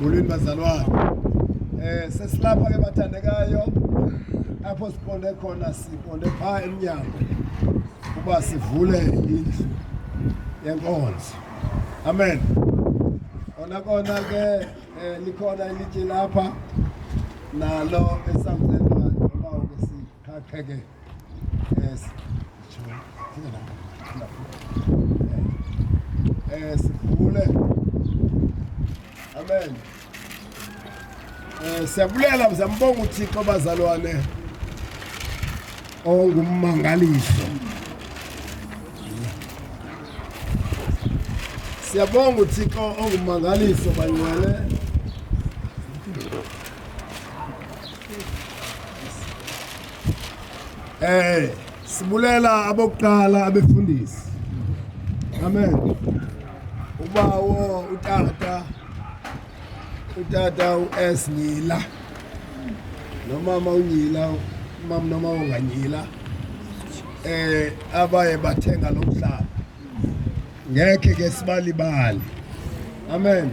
Molweni bazalwana. Eh sesilapha ke bathandekayo apho siqonde khona siqonde phaa emnyango uba sivule indlu yenkonzo. Amen. Kona kona ke eh, likhona ilitye lapha nalo esamthetho Hakege. Yes. Yes. Bule. Amen. Eh siyabulela mzambonga uThixo bazalwane. Ongummangaliso. Siyabonga uThixo ongummangaliso banyele. Eh sibulela abokuqala abefundisi. Amen. Ubawo utata utata uS Nyila nomama uNyila umama noma onganyila eh abaye bathenga lo mhlaba Ngekhe ke sibalibale. Amen.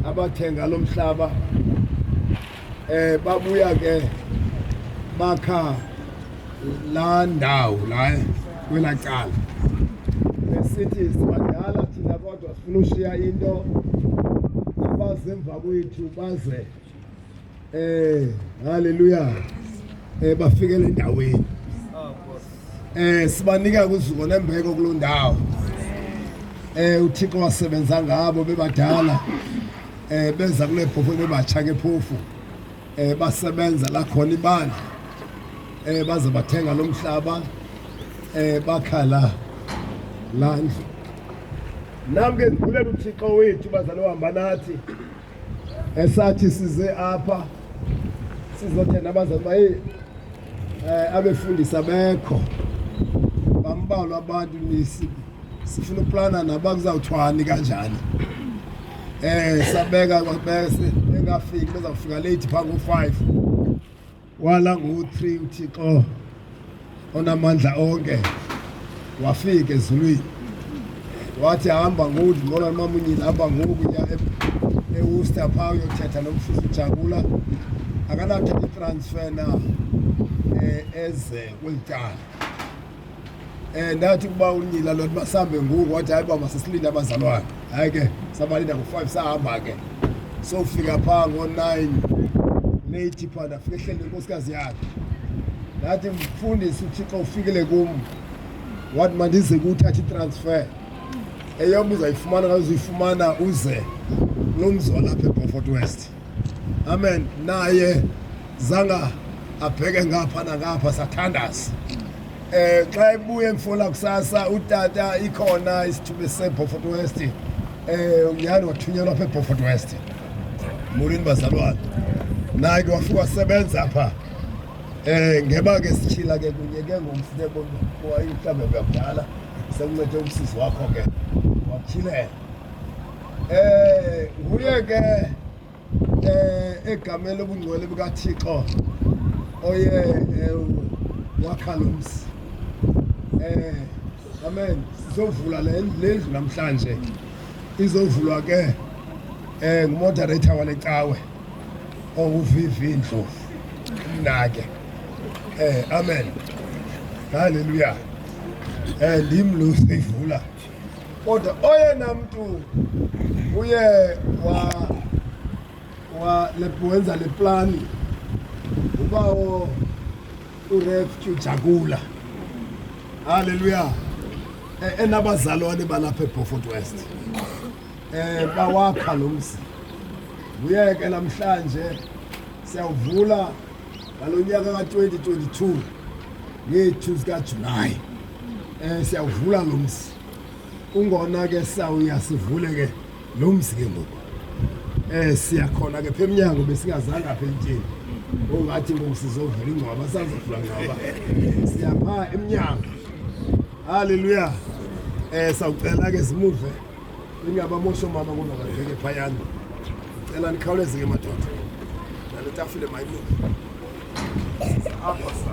Abathenga lo mhlaba eh babuya ke bakha la ndawo la kwela cala besithi sibadala thina kodwa sifuna ushiya into abazemva kwethu baze Eh, haleluya. Eh bafikele endaweni. Eh sibanika kuzuko nembeko kuloo ndawo. Eh uThixo wasebenza ngabo bebadala. Eh benza kule phofu bebatsha ke phofu. Eh basebenza la khona ibandla. Eh baze bathenga lo mhlaba. Eh bakhala landlu. Nam ke ndivulele uThixo wethu bazalwa hamba nathi. esathi size apha sizothenda abazali uba heyi um eh, abefundisa bekho bambalwa abantu nisi sifuna uplana naba kuzawuthwani kanjani um sabeka kwabese engafiki bezawufika leyithi phaa ngo-five Wala ngo-three uThixo onamandla onke wafika ezulwini wathi hamba ngoku ndibona nomamunyile hamba ngoku ya ewusta pha uyothetha nomfuzi ujabula akanathetha itransfer na um eze kweli tyala Eh, ndathi ukuba unyila lo masambe ngoku wathi hayi uba masisilinde abazalwana hayi ke sabalinda ngo-five sahamba ke sofika phaa ngo-nine leyithi phaa ndafika ehleli nenkosikazi yakhe ndathi mfundisi uthixo ufikile kum wathi mandize kuwuthatha itransfer eyom uzayifumana ngazuyifumana uze lomzi walapha ebofort west Amen. Naye zanga abheke ngapha nangapha sathandaza eh xa ebuye emfola kusasa utata ikhona isithuba seBofort West eh uyani wathunyelwa apha eBofort West molweni bazalwane naye ke wafika wasebenza apha eh ngeba ke sichila ke kunye ke ngomfune bonke kwayihlambe yakudala sekuncede umsisi wakho ke wachilela Eh nguye ke eh egamela ubungcwele bukaThixo oye eh, wakha lo mzi. Eh amen sizovula le ndlu namhlanje izovulwa ke eh ngumoderator wale cawe owuvivi oh, indlovu nake eh amen haleluya eh ndim lo seyivula Kodwa oyena mntu uye wa wa wenza le plani ubawo uReftu Jagula. Haleluya. E, enabazalwane balapha eBeaufort West. Eh bawakha lo mzi. Nguye ke namhlanje siyawuvula ngalonyaka ka-2022 ngethu zikaJulayi. um siyawuvula lo mzi kungona ke sawuya sivule ke lo mzi ke ngoku um siyakhona ke pha emnyango besingazange apha elityeni ongathi ngoku sizovula ingcwaba sazovula ngcwaba siyapha emnyango halleluya um sawucela ke zimuve ingabamosho mama kodwa babheke phayana cela nikhawuleze ke madoda nale tafile mayimuve apha sa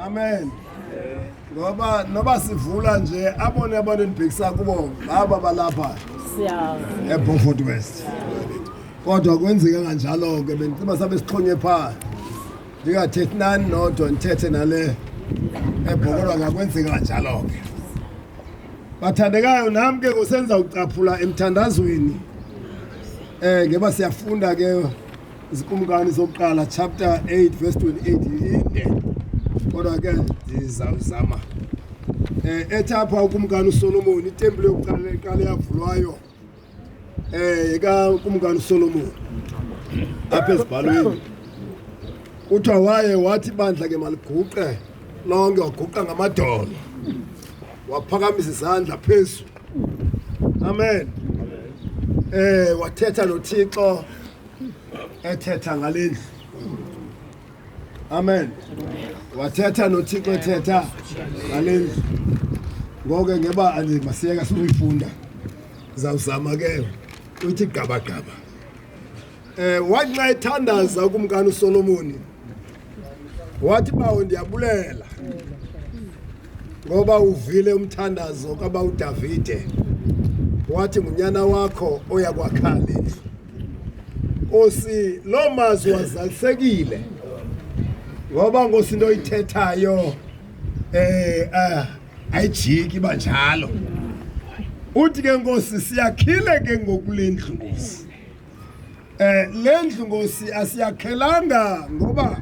Amen. Ngoba noba sivula nje abone abantu endibhekisa kubo ngaba balapha. Siyazi. EBomfort West. Kodwa kwenzeka kanjalo ke bendicela sabe sixhonye phaa. ndingathethi nani nodwa ndithethe nale ebhokolwa ngakwenzeka njalo ke bathandekayo nam ke ngosenza ucaphula emthandazweni um ngeba siyafunda ke izikumkani zokuqala chapter 8 verse 28 inde kodwa ke ndizawuzama um ethi apha ukumkani usolomoni itempile yokuqala eqala yavulwayo Eh ka kumkani Solomon apha ezibhalweni kuthiwa waye wathi bandla ke maliguqe lonke waguqa ngamadolo waphakamisa izandla phezulu amen eh wathetha nothixo ethetha ngale ndlu Amen. Wathetha noThixo ethetha ngalendlu. Ngoke ngeba anje masiyeka siyifunda. Zawuzama ke uthi gaba gaba. Eh wanxa ethandaza kumkani uSolomoni. Wathi bawo ndiyabulela. Ngoba uvile umthandazo kabawu Davide. Wathi ngunyana wakho oya kwakhala indlu. Nkosi loo mazwi wazalisekile ngoba nkosi into oyithethayo eh ah ayijiki banjalo uthi ke nkosi siyakhile ke ngokulendlu nkosi eh lendlu nkosi asiyakhelanga ngoba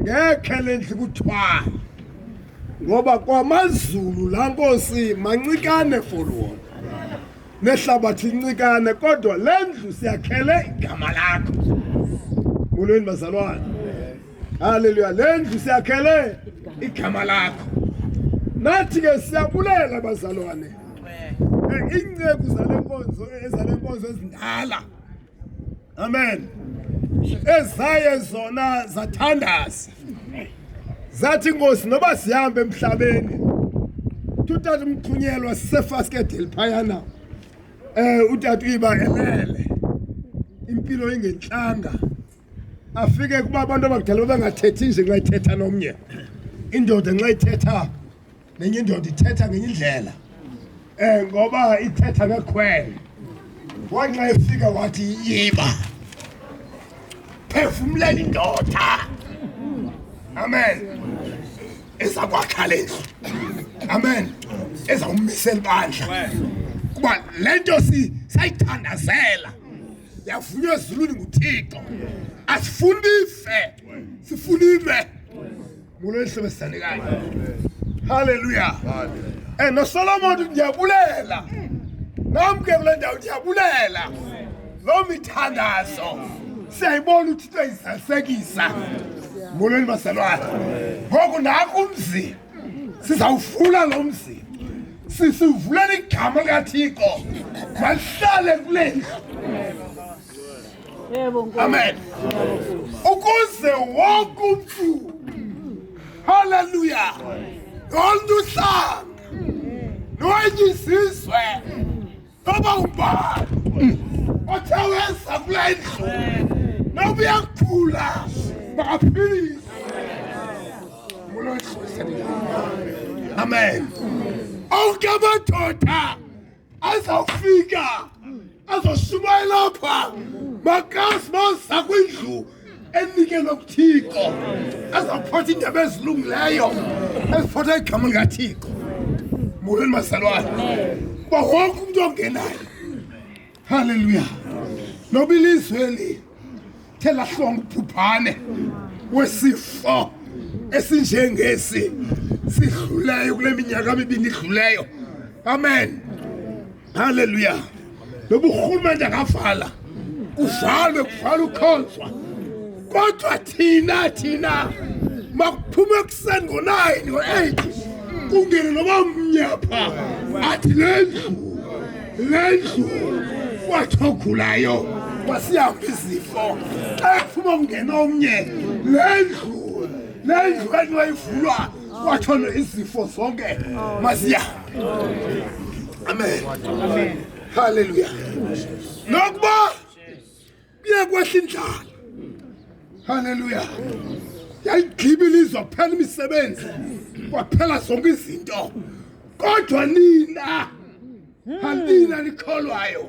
ngekhe lendlu kuthwala ngoba kwamazulu la nkosi mancikane for wona nehlabathi lincikane kodwa le ndlu siyakhele igama lakho molweni bazalwane haleluya le ndlu siyakhele igama lakho nathi ke siyabulela bazalwane iinceku zale nkonzo ezale nkonzo ezindala amen ezaye zona zathandaza zathi inkosi noba sihambe emhlabeni tutata umthunyelwa sisefaskedeli phayana um eh, utata uyiba elele impilo ingentlanga afike kuba abantu abakudala babangathethi nje nxa ithetha nomnye indoda nxa ithetha nenye indoda ithetha ngenye indlela um ngoba ithetha ngekhwele wanxa efika wathi yiba phefumlela indoda amen ezakwakhalezwa amen ezawumisela ibandla kuba le nto sayithandazela yavunywa ezulwini nguthixo asifuni ife sifuna ime mulo elisebenzisane kanye halleluya and nosolomon ndiyabulela nam ke kule ndawo ndiyabulela loo mithandazo siyayibona uthixo izalisekisa molweni bazalwana ngoku naku umzini sizawufula lo mzi sisivulela igama likathixo mahlale kule ndlu amen ukuze wonke umntu halleluya loo nto uhlanga nwenye izizwe Baba ubani? Othe wenza kule ndlu. Noba uyakuphula. Bakaphilise. Mulo ihlisa. Amen. Onke amadoda azawufika azoshumayela apha makazi maza kwindlu enikelwe kuthixo ezawuphatha iindaba ezilungileyo eziphatha igama likathixo molweni mazalwana uba wonke umntu ongenayo halleluya noba ilizwe eli the lahlonga ubhubhane wesifo esinjengesi sidluleyo kule minyaka mibini idluleyo amen Haleluya. Lobu urhulumente angavala. Uvalwe kuvala ukhonzwa. Kodwa thina thina makuphuma ekuseni ngo-9 ngo-8 kungene noba mnyapha athi le ndlu le ndlu kwathogulayo kwasihamba izifo xa ephuma kungena omnye le ndlu le ndlu enwayivulwa kwathona izifo zonke masiya Amen. Amen. Hallelujah. Nokuba biye kwehla indlala. Hallelujah. Yayigibile izophela imisebenzi. Kwaphela zonke izinto. Kodwa nina Hambina nikholwayo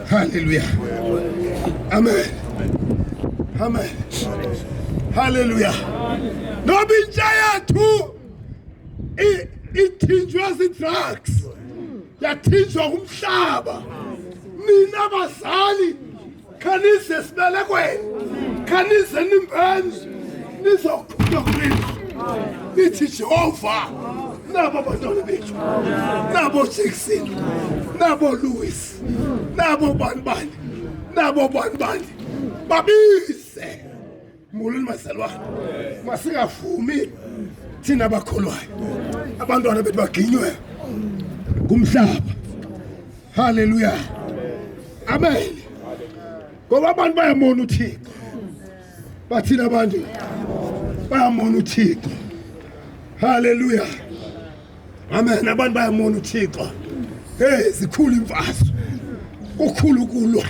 Haleluya, amen, amen, haleluya. Noba intsha yethu ithinjwe zii-drugs yathinjwa ngumhlaba nina bazali khanize esibelekweni khanize nimbeni nizokhula kulina nithi jehova nabo bantwana bethu nabo jackson nabo louis nabo bani bani nabo bani bani babise molweni mazalwana masingavumi thina bakholwayo abantwana bethu baginywe ngumhlaba haleluya amen ngoba abantu bayamona uthixo bathina abantu bayamona uthixo haleluya amen abantu bayamona uthixo hey zikhulu imfaso kukhulu ukulwa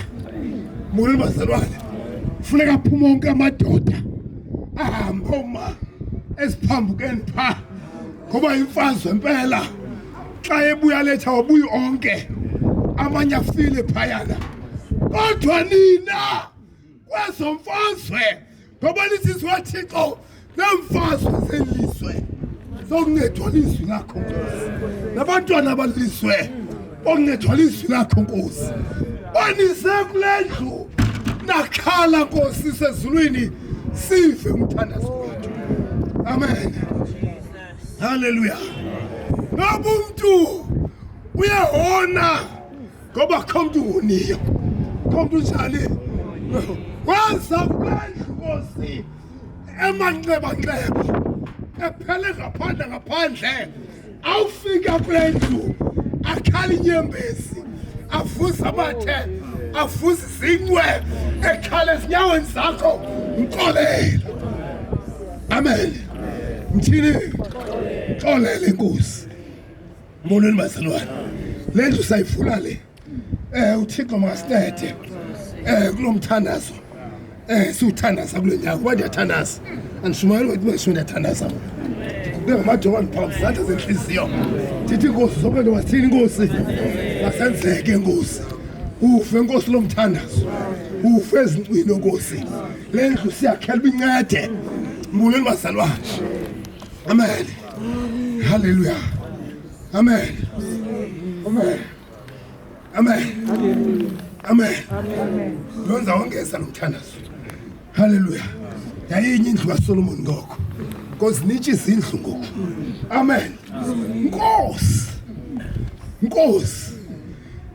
mona bazalwane funeka aphume onke amadoda ahambe uma esiphambukeni pha ngoba imfazwe impela xa ebuya letha wabuya onke amanye afile phayana kodwa nina kwezo mfazwe ngoba lisizwe wathixo neemfazwe zelizwe sokuncedwa lizwi lakho nkosi nabantwana balilizwe bokuncedwa lizwi lakho nkosi banise kule ndlu nakhala nkosi sezulwini sive umthandazo wethu amen haleluya noba umntu uyahona ngoba kho mntu uniyo kho mntu njani waza kwendlu kosi emanxebanxeba ephele ngaphandle ngaphandle awufika kule ndlu akhala inyembezi avuze amathe avuze izincwe ekhala ezinyaweni zakho mxolele amen mthini xolele inkosi Molweni bazalwane. Le ndlu sayifuna le. Eh uThixo makasithethe. Eh kulomthandazo. Eh siwuthandaza kule nyanga kuba ndiyathandaza. Andishumayeli ukuthi besho ndiyathandaza. Ke ngamadoba ndiphambi zandla zenhliziyo. Ndithi inkosi zonke nto wasithini inkosi. Masenzeke inkosi. Ufe inkosi lomthandazo. Ufe ezincwini inkosi. Le ndlu siyakhela ubincede. Molweni bazalwane. Amen. Haleluya. Amen. Amen. Amen. Amen. Lonza wongeza nomthandazo. Haleluya. Yayinye indlu kaSolomon ngoko. Nkosi nitshi izindlu ngoku. Amen. Nkosi. Nkosi.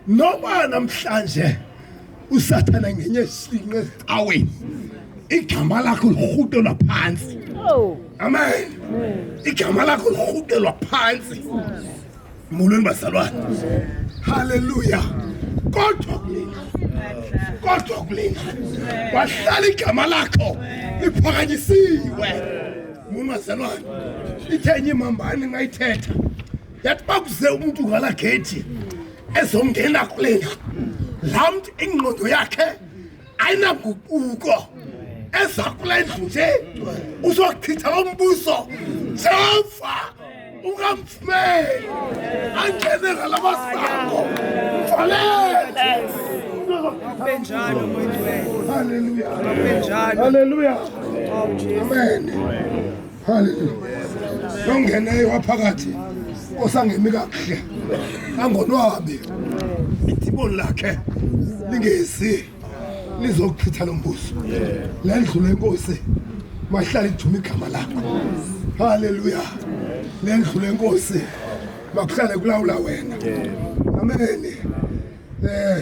Noba namhlanje usathana ngenye sinqe ecaweni igama lakho lirhutelwa phantsi oh. amen igama lakho lirhutelwa phantsi molweni bazalwane halleluya kodwa kulena kodwa kulena wahlala igama lakho liphakanyisiwe muni bazalwane ithenye imambani ngayithetha yathi bakuze umuntu ngala gethi ezongena kule ndlu laa mntu ingqondo yakhe ayinanguquko eza kule ndlu nje uzochitha lo mbuso jehova ungamfumeli angene ngala masango mfalele benjalo mwenjwele haleluya haleluya amen haleluya nongeneyo waphakathi osangemi kakuhle angonwabi ithiboni lakhe lingezi lizokuchitha lo mbuso le ndlu lenkosi mahlale idume igama lakho haleluya le ndlu lenkosi makuhlale kulawula wena ameni um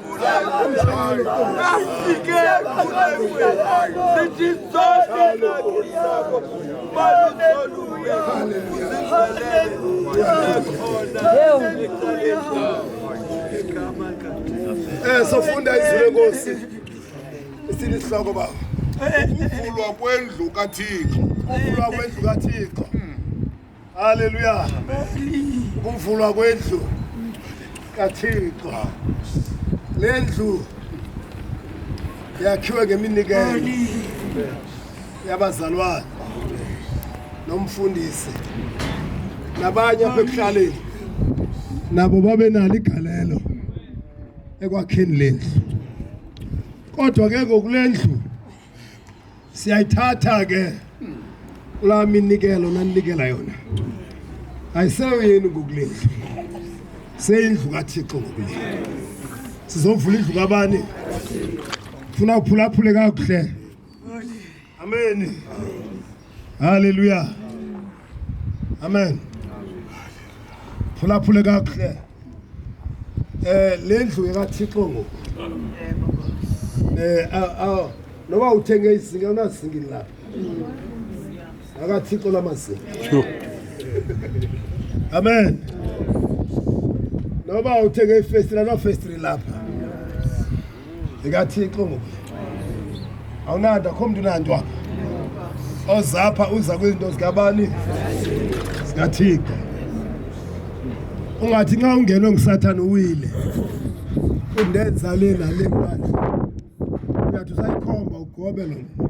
Eh, sofunda izwi lenkosi sinihloko baba ukuvulwa kwendlu kathixo ukuvulwa kwendlu kathixo Haleluya. Ukuvulwa kwendlu kaThixo. Le ndlu yakhiwe ngeminikelo yabazalwane nomfundisi nabanye apha ekuhlaleni nabo babe nalo igalelo ekwakheni le ndlu kodwa ke ngokule ndlu siyayithatha ke kulaa minikelo naninikela yona ayiseyo yenu ngokulendlu seyindlu kathixo ngokulendlu sizovula indlu kabani funa uphulaphule kakuhle ameni Haleluya. Amen. Phulaphule kakuhle. Eh lendlu yekaThixo ngoku. Eh aw noba uthenge izinga unazingi la. AkaThixo lamazinga. Amen. Noba uthenge ifestila no festri lapha. zikathixo ngoku awunanto akho mntu unanto apha ozapha uza kwizinto zikabani zikathixo ungathi nxa ungenwe ngusathane uwile undenza le nale kubani uyathi usayikhomba ugobe lo mntu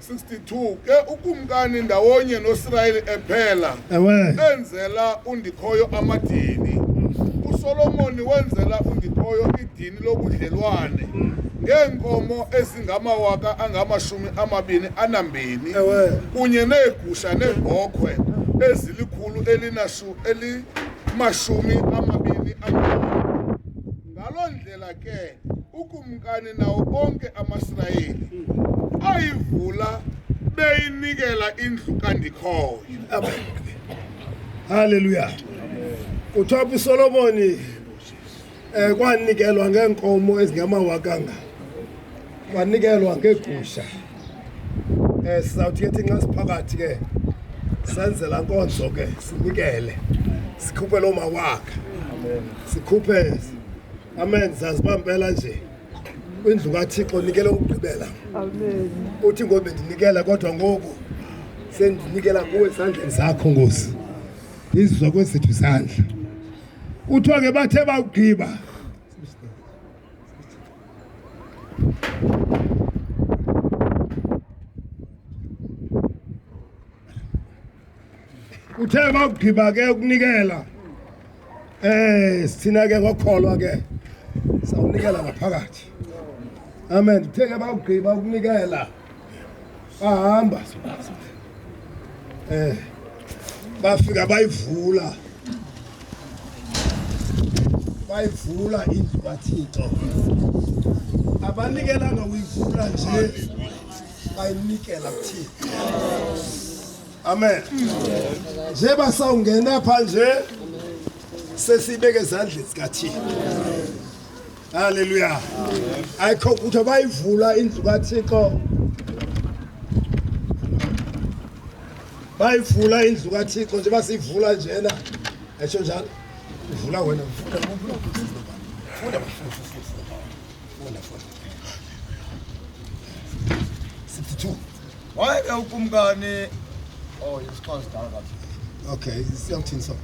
62 ke ukumkani ndawonye nosirayeli ephela ewe enzela undikhoyo amadini usolomoni wenzela undikhoyo idini lobudlelwane ngeenkomo ezingamawaka angamashumi amabini anambini ewe kunye neegusha neebhokhwe ezilikhulu elinashu elimashumi amabini amabini Ngaloo ndlela ke ukumkani nawo bonke amaSirayeli ayivula beyinikela indlu kandikhoyo. Amen. Hallelujah. Kuthiwa apho uSolomoni eh kwanikelwa ngeenkomo ezingamawakanga. Kwanikelwa ngeegusha. Eh sizawuthi ke nxa siphakathi ke senze la nkonzo ke sinikele. Sikhuphe lo mawakhe. Amen. Sikhuphe Amen sazibambela nje. Indlu kaThixo nikele ukugqibela. Amen. Uthi ngobe ndinikela kodwa ngoku sendinikela kuwe esandleni sakho Nkosi. Izizwa kwezethu sandla. Kuthiwa ke bathe bawugqiba uthe bakugqiba ke ukunikela eh sithina ke ngokholwa ke sawunikela ngaphakathi amen uthe ke bakugqiba ukunikela Bahamba. Eh. Bafika bayivula. Bayivula indlu kaThixo. Abanikelanga uyivula nje. Bayinikela kuThixo. Amen. Nje basawungena pha nje sesibeke ezandleni zikaThixo. Haleluya. Ayikho ukuthi bayivula indlu kaThixo. Bayivula indlu kaThixo nje basivula njena. Esho njalo. Ivula wena ufunda ufunda ufunda ufunda ufunda 62 wayeke ukumkani oh isixhosa sidala kabi okay siyawuthini so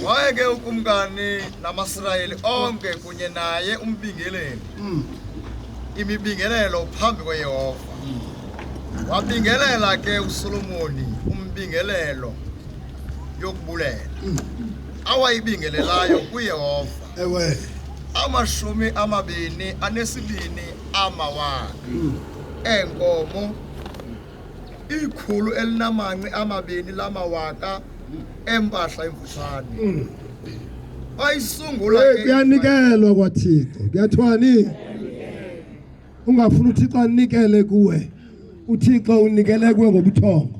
wayeke ukumkani namasirayeli onke kunye naye umbingeleli mm. imibingelelo phambi kweyehova mm. wabingelela ke usolomoni umbingelelo yokubulela mm. awayibingelelayo kuyehova ewe amashumi amabini anesibini amawaka eenkomo ikhulu elinamanqi amabini lamawaka empahla emfutshane bayisungula Hey, ke- kuyanikelwa kwathixo kuyathwani ungafuni uthixo anikele kuwe uthixo unikele kuwe ngobuthongo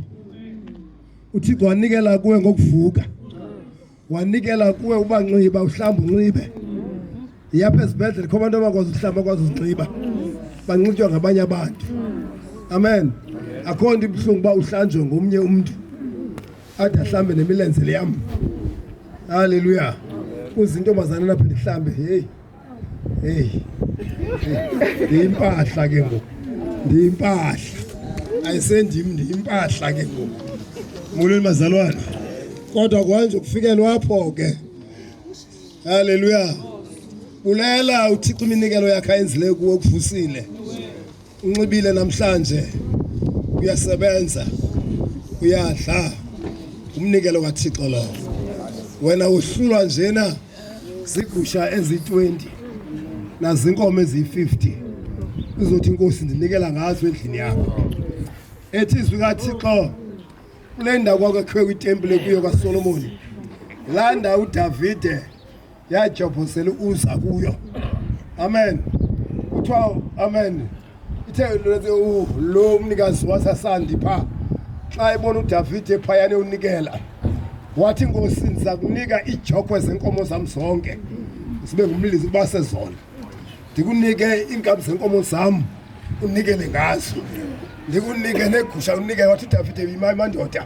uthixo wanikela kuwe ngokuvuka wanikela kuwe ubanxiba uhlamba unxibe yapha esibhedlele kho abantu abakwazi uhlamba akwazi uzinxiba banxitywa ngabanye abantu amen akho nto ibuhlungu uba uhlanjwe ngomnye umntu ade ahlambe nemilenze leyam halleluya kuzinto mazana napha ndihlambe heyi heyi ndiyimpahla ke ngoku ndiyimpahla ayisendim ndiyimpahla ke ngoku molweni mazalwane kodwa kwanje kufikelwa apho ke haleluya bulela uthixo iminikelo yakhe ayenzileyo kuwe kuvusile Unxibile namhlanje uyasebenza uyadla umnikelo kaThixo lowo wena uhlulwa njena zigusha ezi-20 nazinkomo eziyi-50 uzothi inkosi ndinikela ngazo endlini yakho ethi izwi kathixo kule ndawo kwakakhiwe kwitempile kuyo kasolomoni laa ndawo udavide yajobhosela uza kuyo amen kuthiwa amen ithe lo mnikazi wasasandi phaa xa ebona udavide phayana ewunikela wathi nkosi ndiza kunika iijokwe zenkomo zam zonke zibe ngumlisi uba sezona ndikunike iinkabi zenkomo zam unikele ngazo ndikunike neegusha unikele wathi udavide yima imandoda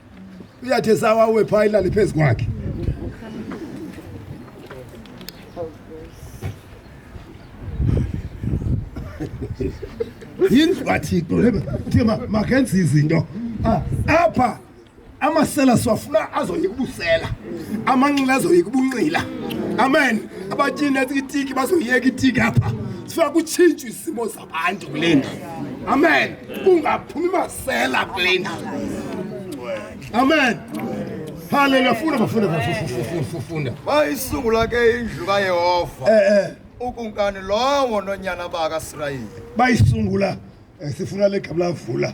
uyathe sawa uwe phaa ilale phezu kwakhe yindlu kathixo thi makenze izinto ah, apha amasela siwafuna azoyika ubusela amanxila azoyika ubunxila amen abatyini etiki bazoyeka itiki apha sifuna kutshintshwa isimo Anti kule ndlu. Amen. Kungaphumi masela kule ndlu. Amen. Haleluya funda bafunda bafunda funda. Bayisungula ke indlu kaYehova. Eh eh. Ukunkani lowo nonyana baka Israyeli. Bayisungula eh, sifuna le gabla vula.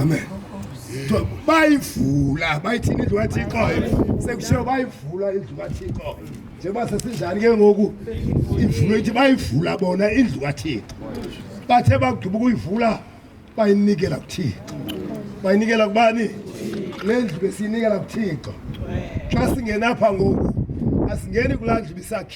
amen bayivula bayithini indlu kathixo sekushiwo bayivula indlu kathixo njengoba sesinjani ke ngoku ivulwe ithi bayivula bona indlu kathixo bathe bagqiba ukuyivula bayinikela kuthixo bayinikela kubani le ndlu besiyinikela kuthixo xa singenapha ngoku asingeni kulaa ndlu bisakhe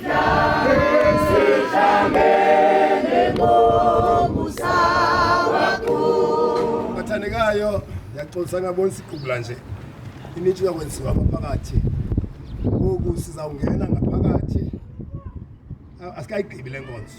athandekayo ndiyaxolisa ngabona siqubula nje initshi yakwenziwa ngaphakathi ngoku sizawungena ngaphakathi asikayigqibi le nkonzo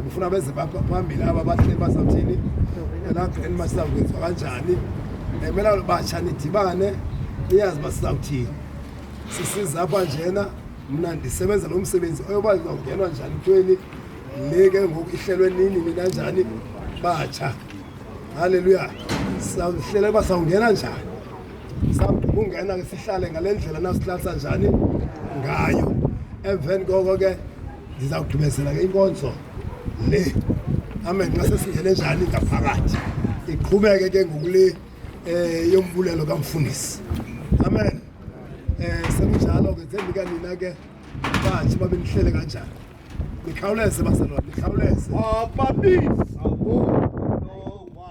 ndifuna beze phambili aba bahleli bazawuthini elapha eli masizakwenziwa kanjani emela batsha nidibane niyazi uba sizawuthini sisiza apha njena mna ndisebenza lo msebenzi oyoba ndizawungenwa njani kuthiweni le ke ngoku ihlelwe nini nina njani batsha halleluya sawuhlele uba sawungena njani sawukungena ke sihlale ngale ndlela nasihlalisa njani ngayo emveni koko ke ndizawugqibezela ke inkonzo le amen xa sesingene njani ngaphakathi iqhubeke ke ngokule um yombulelo kamfundisi amen um sekunjalo ke zendika nina ke batshe babe nihlele kanjani nikhawuleze bazalwane nikhawuleze ababizabo